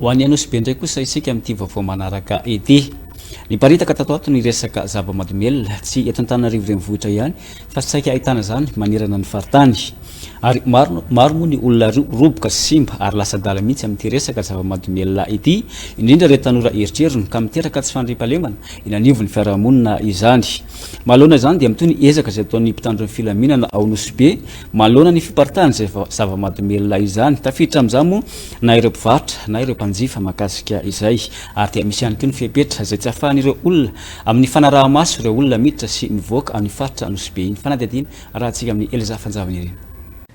Ho any Anosibe indray kosa isika amin'ity vaovao manaraka ity. Niparitaka tato ato ny resaka zava-mahadomelina, tsy eto Antananarivo renivohitra ihany fa saika ahitana izany manerana ny faritany. Ary maro, maro moa ny olona roboka sy simba ary lasa adala mihitsy amin'ity resaka zava-mahadomelina ity, indrindra ireo tanora eritrerony ka miteraka tsy fandriampahalemana eny anivon'ny fiarahamonina izany. Manoloana izany dia mitohy ny ezaka izay ataon'ny mpitandro ny filaminana ao Nosy Be manoloana ny fiparitahan' izay zava-mahadomelina izany. Tafiditra amin'izany moa na ireo mpivarotra na ireo mpanjifa mahakasika izay ary dia misy ihany koa ny fepetra izay tsy ahafahan'ireo olona amin'ny fanaraha-maso ireo olona miditra sy mivoaka amin'ny faritra Nosy Be. Ny fanadihadiana arahantsika amin'i Elsa Fanjavanirina.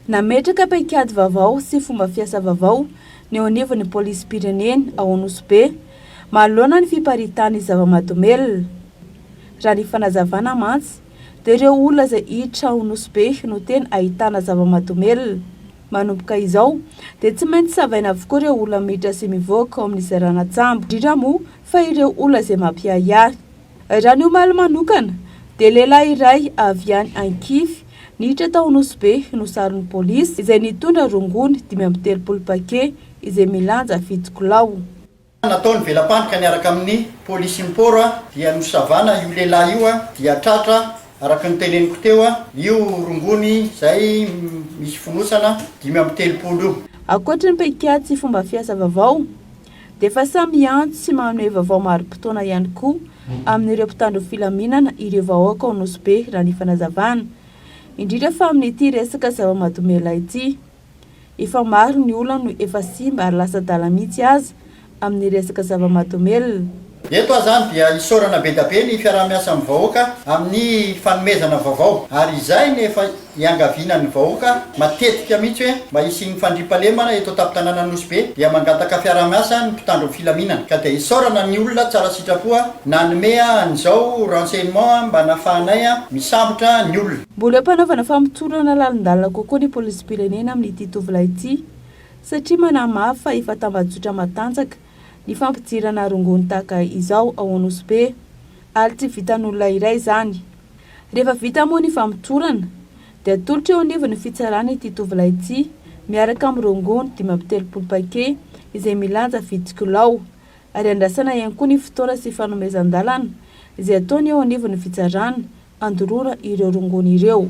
Nametraka paikady vaovao sy fomba fiasa vaovao ny eo anivon'ny polisim-pirenena ao Nosy Be manoloana ny fiparitahan'ny zava-mahadomelina. Raha ny fanazavana mantsy dia ireo olona izay hiditra ao Nosy-Be no tena ahitana zava-mahadomelina. Manomboka izao dia tsy maintsy savaina avokoa ireo olona miditra sy mivoaka ao amin'izay rana-tsambo, indrindra moa fa ireo olona izay mampiahiahy. Raha ny omaly manokana dia lehilahy iray avy any Ankify niditra tao Nosy-Be no saron'ny polisy izay nitondra rongony dimy amby telopolo paquet izay milanja fito kilao. natao ny vela-pandrika niaraka amin'ny polisy import dia nosavana io lehilahy io dia tratra araka ny teneniko teo io rongony izay misy fonosana dimy amby telopolo io. Ankoatry ny paikady sy fomba fiasa vaovao dia efa samy miantso sy manome vaovao marim-potoana ihany koa amin'ireo mpitandro filaminana ireo vahoaka ao Nosy Be raha ny fanazavana indrindra fa amin'ity resaka zava-mahadomelina ity. Efa maro ny olona no efa simba ary lasa adala mihitsy aza amin'ny resaka zava-mahadomelina. Eto azany dia isaorana bedabe ny fiaraha-miasa amin'ny vahoaka amin'ny fanomezana vaovao ary izay ny efa iangavianan'ny vahoaka matetika mihitsy hoe mba hisian'ny fandriampahalemana eto an-tampon-tanànan'i Nosy Be dia mangataka fiaraha-miasa ny mpitandro ny filaminana ka dia isaorana ny olona tsara sitrapo nanome an'izao renseignement mba nafahanay misambotra ny olona Mbola ampanaovina famotorana lalindalina kokoa ny polisim-pirenena amin'ity tovolahy ity satria manamafy fa efa tambajotra matanjaka ny fampidirana rongony tahaka izao ao Anosibe be ary tsy vitan'olona iray izany. Rehefa vita moa ny famotorana dia atolotra eo anivon'ny fitsarana ity tovolahy ity miaraka amin'ny rongony dimy amby telopolo paquet izay milanja fito kilao ary andrasana ihany koa ny fotoana sy fanomezan-dalana izay ataony eo anivon'ny fitsarana handorora ireo rongony ireo.